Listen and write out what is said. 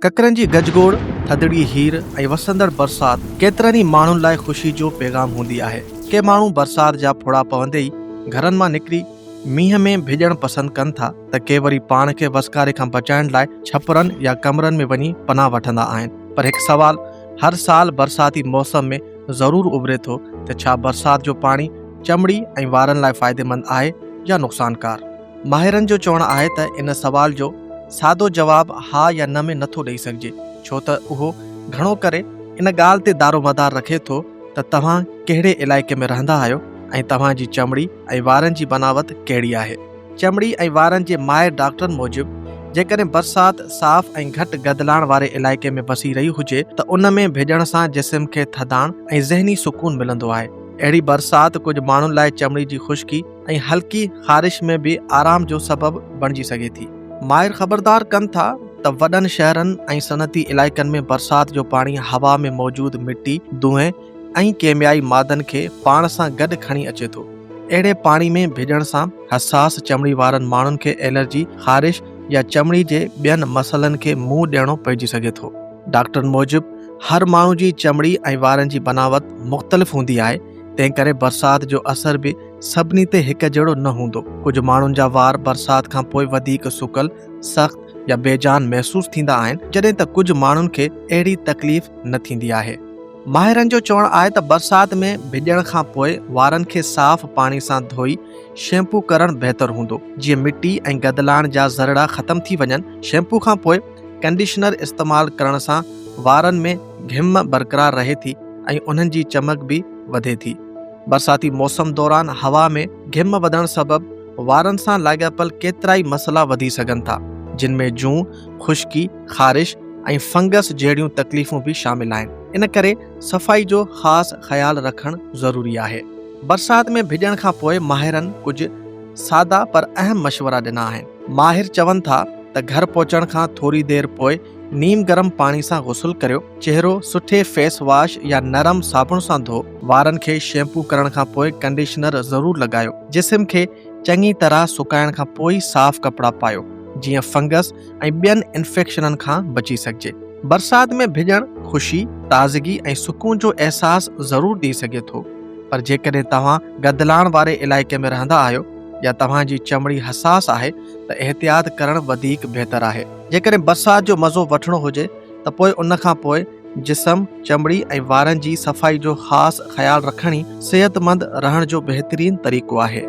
ڪڪرن جي گج گوڙ، ٿڌڙي هير ۽ وسندڙ برسات ڪيترن ئي ماڻهن لاء خوشي جو پيغام هوندي آهي. ڪي ماڻهو برسات جا ڦڙا پوندي ئي گهرن مان نڪري مينهن ۾ ڀڄڻ پسند ڪن ٿا ته ڪي وري پاڻ کي وسڪاري کان بچائڻ لاء ڇپرن يا ڪمرن ۾ وڃي پناهه وٺندا آهن پر هڪ سوال هر سال برساتي موسم ۾ ضرور اڀري ٿو ته ڇا برسات جو پاڻي چمڙي ۽ وارن لاء فائديمند آهي يا نقصانڪار؟ ماهرن جو چوڻ آهي ته ان سوال جو سادو جواب ها يا نه ۾ نٿو ڏئي سگهجي ڇو ته اهو گهڻو ڪري ان ڳالهه تي دارومدار رکي ٿو ته توهان ڪهڙي علائقي ۾ رهندا آهيو ۽ توهان جي چمڙي ۽ وارن جي بناوت ڪهڙي آهي. چمڙي ۽ وارن جي ماهر ڊاڪٽرن موجب جيڪڏهن برسات صاف ۽ گهٽ گدلاڻ واري علائقي ۾ وسي رهي هجي ته ان ۾ ڀيڄڻ سان جسم کي ٿڌاڻ ۽ ذهني سڪون ملندو آهي. اهڙي برسات ڪجهه ماڻهن لاء چمڙي جي خشڪي ۽ هلڪي خارش ۾ به آرام جو سبب بڻجي سگهي ٿي. ماهر خبردار ڪن ٿا ته وڏن شهرن ۽ صنعتي علائقن ۾ برسات جو پاڻي هوا ۾ موجود مٽي، دونهين، ۽ ڪيميائي مادن کي پاڻ سان گڏ کڻي اچي ٿو. اهڙي پاڻي ۾ ڀيڄڻ سان حساس چمڙي وارن ماڻهن کي الرجي، خارش يا چمڙي جي ٻين مسئلن کي منهن ڏيڻو پئجي سگهي ٿو. ڊاڪٽرن موجب هر ماڻهو جي چمڙي ۽ وارن جي بناوت مختلف هوندي آهي، تنهنڪري برسات جو اثر به سڀني تي هڪ جهڙو نه هوندو. ڪجهه ماڻهن جا وار برسات کان پوء وڌيڪ سڪل، سخت يا بيجان محسوس ٿيندا آهن، جڏهن ته ڪجهه ماڻهن کي اهڙي تڪليف نه ٿيندي آهي. ماهرن جو چوڻ آهي ته برسات ۾ ڀڄڻ کان پوء وارن کي صاف پاڻي سان ڌوئي شيمپو ڪرڻ بهتر هوندو جيئن مٽي ۽ گدلاڻ جا ذرڙا ختم ٿي وڃن، شيمپو کان پوء ڪنڊيشنر استعمال ڪرڻ سان وارن ۾ گهم برقرار رهي ٿي ۽ انهن جي چمڪ به وڌي ٿي، برساتي موسم دوران هوا ۾ گهم وڌڻ سبب وارن سان لاڳاپيل ڪيترائي مسئلا وڌي سگهن ٿا جن ۾ جون، خشڪي. خارش ۽ فنگس جهڙيون تڪليفون به شامل آهن ان ڪري صفائي جو خاص خيال رکڻ ضروري آهي. برسات ۾ ڀڄڻ کان پوء ماهرن ڪجهه سادا پر اهم مشورا ڏنا آهن. ماهر چون ٿا ته گهر پهچڻ کان ٿوري دير پوء نيم گرم پاڻي سان غسل ڪريو، چهرو سٺي فيس واش يا نرم صابڻ سان ڌو، وارن کي شيمپو ڪرڻ کان پوء ڪنڊيشنر ضرور لڳايو، جسم کي چڱي طرح سڪائڻ کان پوء ئي صاف ڪپڙا پايو جيئن فنگس ۽ ٻين انفيڪشنن کان بچي سگهجي. برسات ۾ ڀڄڻ خوشي، تازگي ۽ سڪون جو احساس ضرور ڏئي سگهي ٿو پر جيڪڏهن توهان گدلاڻ واري علائقي ۾ رهندا آهيو يا توهان جي چمڙي حساس آهي ته احتياط ڪرڻ وڌيڪ بهتر آهي. جيڪڏهن برسات جو مزو وٺڻو هجي ته پوء ان کان پوء جسم، چمڙي ۽ وارن جي صفائي جو خاص خيال رکڻ ئي صحتمند رهڻ جو بهترين طريقو آهي.